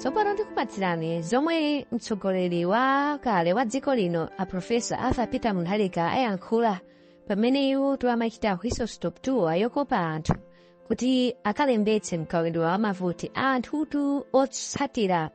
tsopano tikupatsirani zomwe mtsogoleri wa kale wa dziko lino a profesa arthur peter mutharika ayankhula pamene iwo tiwamachita whistle stop tour yokopa anthu kuti akalembetse mkaundula wa mavoti anthutu otsatira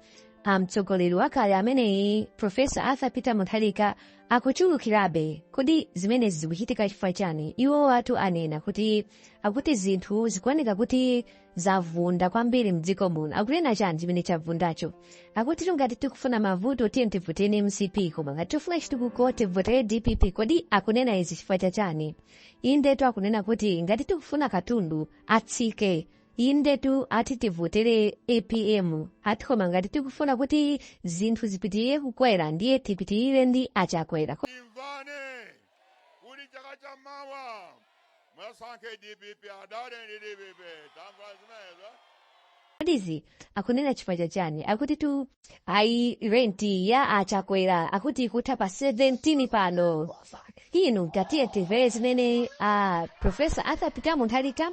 a mtsogoleri wakale ameneyi profesa arthur peter mutharika akuchulukirabe kodi zimenezi zikuchitika chifukwa chani iwowatu anena kuti akuti zinthu zikuoneka kuti zavunda kwambiri mdziko muno akunena chani chimene chavundacho akutitu ngati tikufuna mavuto tiye tivotere mcp koma ngati tifuna chitukuko tivotere dpp kodi akunena izi chifukwa cha chani indetu akunena kuti ngati tikufuna katundu atsike indetu ati tivotere apm ati koma ngati tikufuna kuti zinthu zipitirire kukwera ndiye tipitirire ndi a chakwera kodi izi akunena chifukwa cha chani akutitu ayi renti ya a chakwera akuti ikutha pa 17 pano inu tatiye timvere zimene a profesa arthur peter mutharika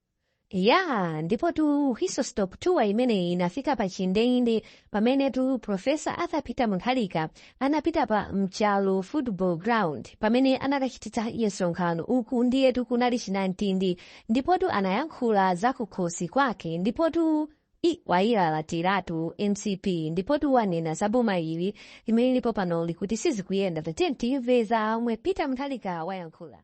ya ndipotu whistle stop tour imeneyi inafika pa chindende pamenetu profesa arthur peter mutharika anapita pa nchalo football ground pamene anakachititsa msonkhano uku ndiyetu kunali chinamtindi ndipotu anayankhula za kukhosi kwake ndipotu wayilalatiratu mcp ndipotu wanena za boma ili limene lipo panoli kuti sizikuyenda tatiyeni timve zomwe peter mutharika wayankhula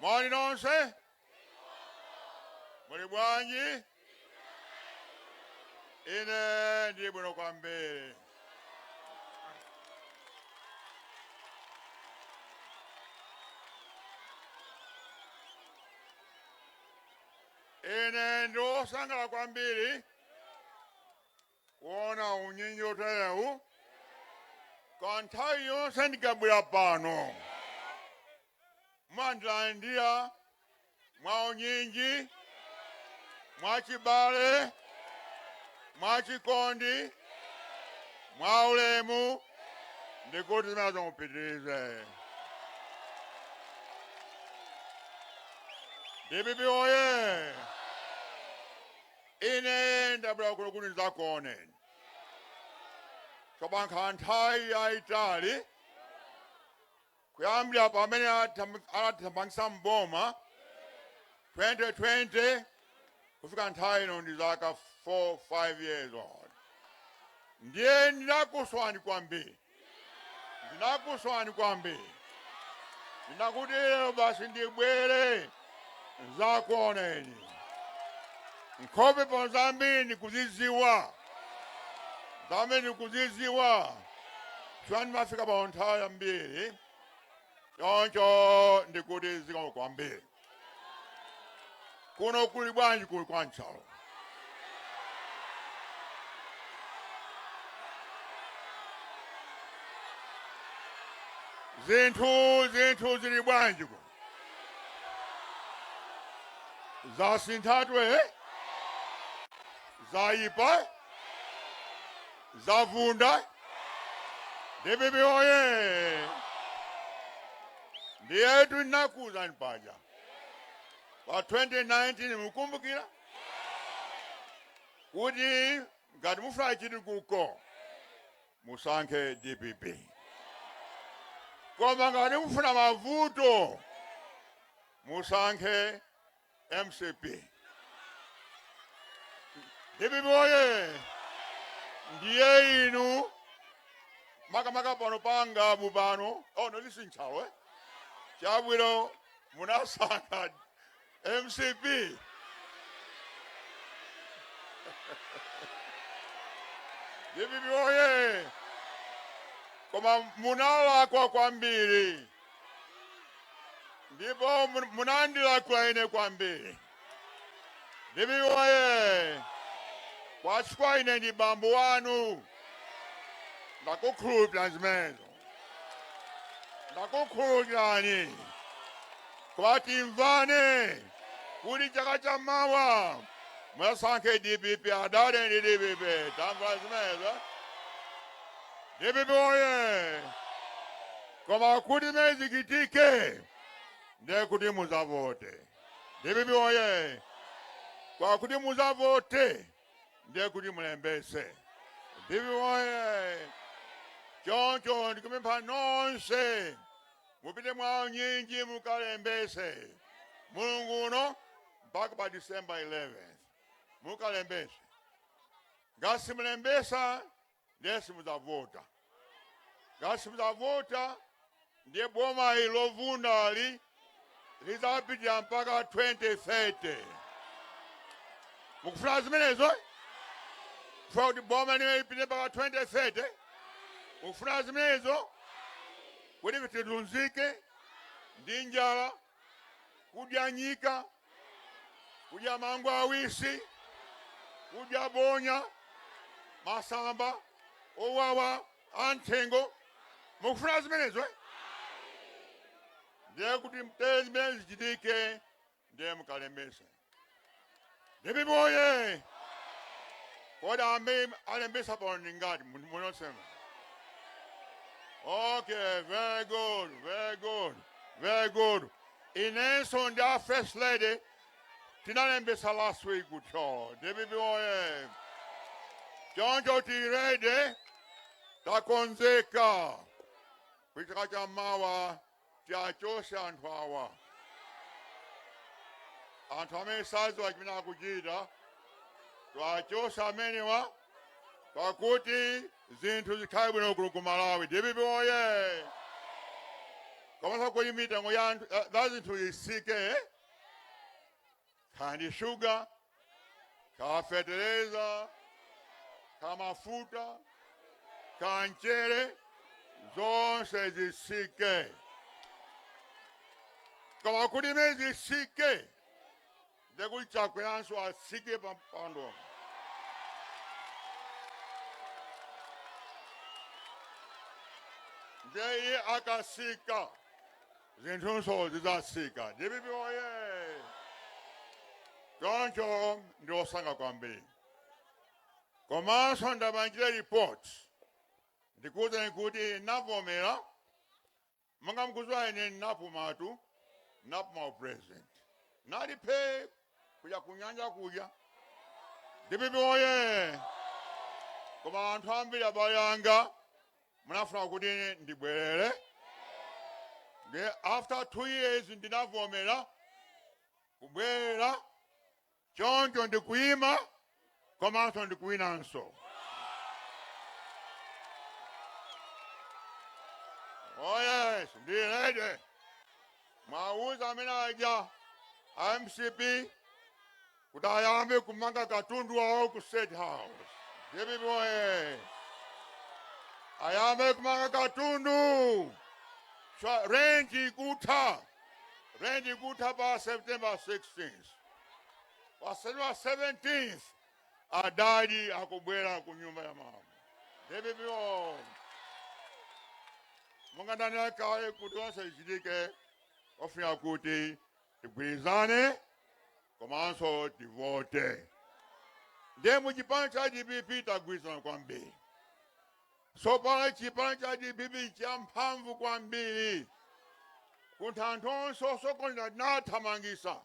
Moni nonse. Muli bwanji? Ine ndili bwino kwambiri. Ine ndi wosangala kwambiri kuona unyinji woterewu kwa nthawi yonse ndikabwera pano. Mumandilandira mwaunyinji, mwachibale, mwachikondi, mwaulemu ndikuti zimenezo mupitirize. Dpp oye! Ine ndabwera kuno kuti ndidzakuoneni. Chapakhala nthawi yayitali kuyambira pamene anatithamangitsa m'boma 2020 kufika nthawi ino ndi zaka 4 5 years ago, ndiye ndinakusowani kwambiri. ndinakusowani kwambiri ndinakuti lero basi ndibwere ndzakuoneni nkhope zambiri ndikuzidziwa zambiri ndikuzidziwa chifukwa ndimafika pano nthawi yambiri choncho ndikuti zikomo kwambiri Kuno kuli bwanji kuli kwa Nchalo? Zinthu zinthu zili bwanji kuno? Zasinthatu eh? Zayipa? Zavunda? DPP oye! Ndiyetu ndinakuuzani paja pa 2019 mukumbukira kuti ngati mufuna chitukuko musankhe dpp koma ngati mufuna mavuto musankhe mcp dpp oye ndiye inu makamaka pano pa Ngabu pano oh no listen Nchalo eh chabwino munasankha mcp dpp oye koma munalakwa kwambiri ndipo mun- munandilakwira ine kwambiri dpp oye koma chifukwa ine ndi bambo wanu ndakukhululukirani zimenezo ndakukhululukirani koma timvane kuti chaka cha mawa musankhe dpp adale ndi dpp tamvana zimenezo dpp oye Koma kuti zimenezi zichitike ndiye kuti muzavote. Dpp woyee! Koma kuti muzavote ndiye kuti mulembetse. Dpp woyee! Choncho ndikupempha nonse mupite mwaunyinji mukalembetse mulungu uno mpaka pa December 11th mukalembetse. Ngati simulembetsa ndiye simudzavota ngati simudzavota ndiye boma ili lovundali lidzapitirira mpaka 2030 mukufuna zimenezo kufuna kuti boma limeneli lipitirire mpaka 2030 mukufuna zimenezo kuti tizizunzika ndi njala kudya nyika, kudya mango awisi, kudya bonya, masamba owawa anthengo. Mukufuna zimenezo eh? ndiye kuti kuti zimenezi zisachitike ndiye mukalembetse Dpp oye! Kodi amene alembetsa pano ndi angati mu- munosema? Okay, very good, very good, very good. Inenso ndi a first lady tinalembetsa last week ku Thyolo. Dpp oye! Choncho tili ready takonzeka kuchaka cha mawa tiwachotse anthu awa anthu amene sadziwa chimene akuchita tiwachotse amenewa pakuti zinthu zikhale bwino kuno ku malawi dpp oye komanso kuti mitengo ya anthu- ya- za zinthu itsike kaya ndi shuga kaya fetereza kaya mafuta kaya mchere zonse zitsike koma kuti zimene zitsike ndekuti chakweranso atsike pa mpando ndiye iye akatsika zinthunso zidzatsika. Dpp woyee! Choncho ndili osangalala kwambiri. Komanso ndipange report ndikuwuzeni kuti navomera monga mukudziwa ine napumatu napuma upresident ndinali phee kuja kunyanja kuja dpp woyee koma anthu ambiri abale anga munafuna kuti ndibwerere ndiye after two years ndinavomera kubwerera choncho ndikuyima komanso ndikuwinanso oh yes ndili ready muwauze amene aja a mcp kuti ayambe kumanga katundu wawo ku state house dpp oye ayambe kumanga katundu Cha- rent ikutha rent ikutha pa september 16 pa september 17 adadi akubwera ku nyumba ya mama dpp oye monga ndanena kale kuti zonse zichitike tifuna kuti tigwirizane komanso tivote ndiye mu chipani cha dpp tagwirizana kwambiri tsopano chipani cha dpp nchamphamvu kwambiri kuti anthu onse osokoneza tinathamangitsa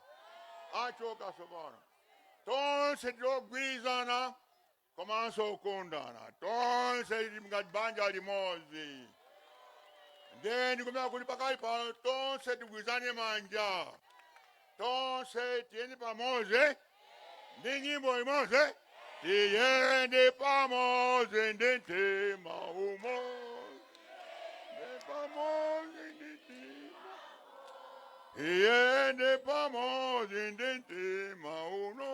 achoka tsopano tonse tili ogwirizana komanso okondana tonse tili ngati banja limodzi ndiye ndikupempha kuti pakali pano tonse tigwirane manja tonse tiyende pamodzi ndi nyimbo imodzi tiyende pamodzi ndi mtima umodzi tiyende pamodzi ndi mtima tiyende pamodzi ndi mtima uno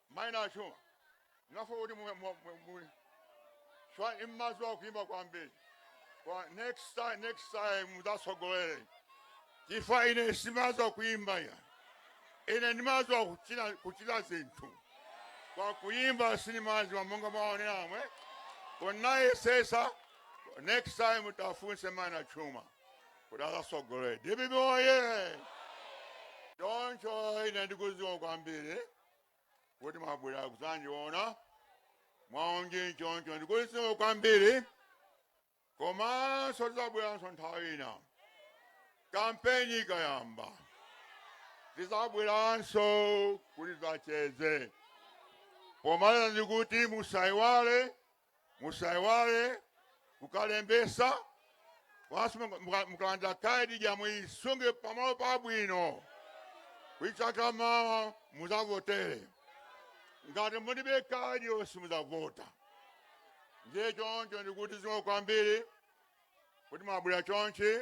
Mai Nachuma ndamva kuti mu mu mu mu chwa imadziwa kuimba kwambiri kwa next time next time mudzatsogolere chifukwa ine simadziwa kuimba ya ine ndimadziwa kuchita kuchita zinthu kwa kuimba sinimadziwa monga mwaonera momwe konaye sesa next time tidzafunse mai Nachuma kuti adzatsogolere dibibi oye choncho ine ndikuti zikomo kwambiri kuti mwabwera kudzandiona mwaonje choncho ndikuti zikomo kwambiri komanso tidzabweranso nthawi ina kampeni ikayamba tidzabweranso kuti tidzacheze pomaliza ndikuti musaiwale Musaiwale kukalembesa basi muka- muka- mukalandira ka ID ija muisunge pamalo pabwino kuti chaka chamawa muzavotere ngati mulibe ka ID yo simuzavota ndiye choncho ndikuti zikomo kwambiri kuti mwabwera chonchi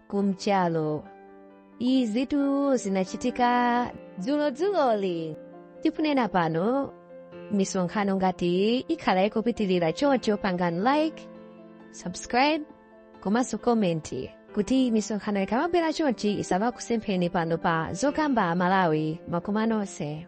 kumchalo izitu zinachitika dzulodzuloli tikunena pano misonkhano ngati iyi ikhala ikupitirira choncho pangani like subscribe komanso komenti kuti misonkhano ikamabwera chonchi isamakusempheni pano pa zokamba malawi zikomo nonse